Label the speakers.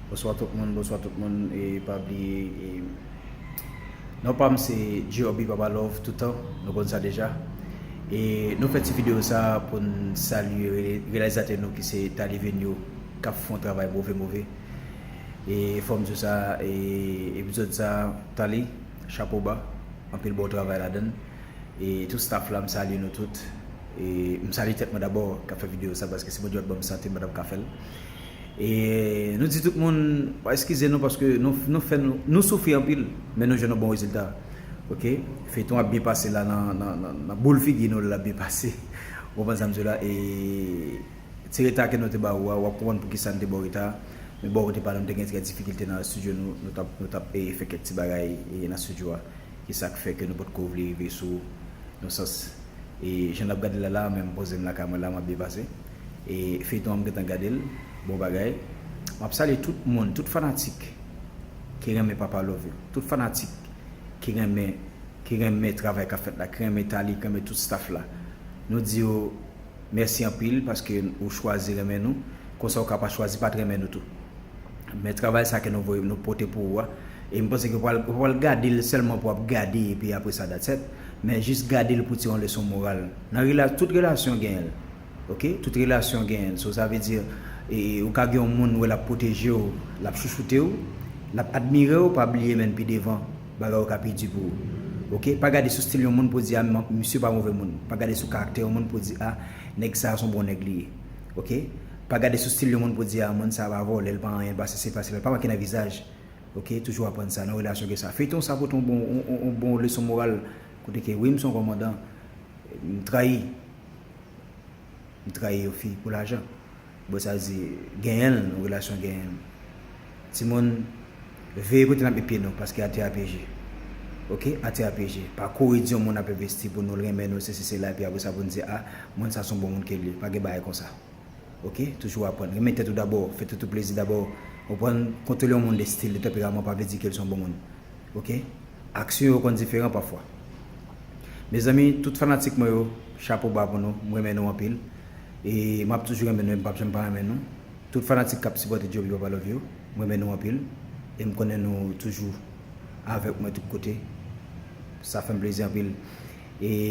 Speaker 1: Bonswa tout moun bonswa tout moun e pa bliye e non pam se G-Oby Papa Love toutan nou konn sa deja e nou fè ti video sa pou n salye reyalizatè nou ki se Thalie Venio kap fon travay move move e fòm di w sa e epizòd sa Thalie chapo ba anpil bon travay ladann e tout staff la m salye nou tout. E m salye tèt mwen dabò k ap fè videyo sa paske si Bondye pa t ban m sante m pa t ap ka fè l. E nou di tout moun eskize nou paske nou fè nou nou soufri anpil men nou jwenn yon bon rezilta ok. Feyton ap byen pase la nan boul figi nou l ap byen pase ou konprann sa m di w la e ti reta ke nou te ba ou a w ap konprann poukisa n te ba w reta a men bò kote pa nou nou te gen kèk difikilte nan estidyo nou nou t ap fè kèk ti bagay nan estidyo a. Ki sa k fè ke nou pot ko vle rive sou ou? Nan sans, e jan n ap gade l la la, menm m poze m lakay mwen la, m ap depase. E feyton an m gentan gade l, bon bagay. M ap salye tout moun, tout fanatik ki renmen Papa Love yo, tout fanatik ki renmen, ki renmen travay k ap fèt la, ki renmen Thalie, ki renmen tout staff la. Nou di yo. Mèsi anpil paske ou chwazi renmen nou, konsa ou ka pa chwazi pat renmen nou tou. Men travay sa ke nou voye nou pote pou ou a, e m panse ke ou pa ou pa pral gade l sèlman pou ap gade epi apre sa that's et, men jis gade l pou tire yon leson moral nan rela tout relasyon genyen l ok tout relasyon genyen l so sa vle di e ou ka gen yon moun ou wè l ap pwoteje w l ap chouchoute w l ap admire w pa bliye menn pi devan Bagay yo ka pi di pou ou. Ok pa gade sou stil yon moun pou di a misye pa move moun. Pa gade sou karaktè yon moun pou di a nèg sa son bon nèg li ye. Ok pa gade sou stil yon moun pou di a moun sa pa vòlè li pa anyen pa sesi pa sela pa make nan vizaj. Ok toujou aprann sa nan relasyon gen sa. Feyton sa pote yon bon leson moral kote ke wi m son kòmandan m trayi. M trayi yon fi pou lajan. Bon sa di genyenl yon relasyon genyenl. Timoun veye kote nap met pye nou paske atè a pyeje ok atè a pyeje pa kouri di yon moun nap envesti pou nou l renmen nou sesi sela epi apresa poun di a moun sa son bon moun ke li pa gen bagay konsa ok toujou aprann renmen tèt ou dabò fè tèt ou plezi dabò ou prann kontwole yon moun de stil de tanperaman pa vle di ke li son bon moun ok aksyon yo konn diferan pafwa Mezanmi tout fanatik mwen yo chapo ba pou nou m renmen nou anpil e map toujou renmen nou e m pap janm pa renmen nou tout fanatik kap sipòte Joby papa love you m renmen nou anpil e m konnen nou toujou avèk mwen tout kote sa fèm plezi anpil e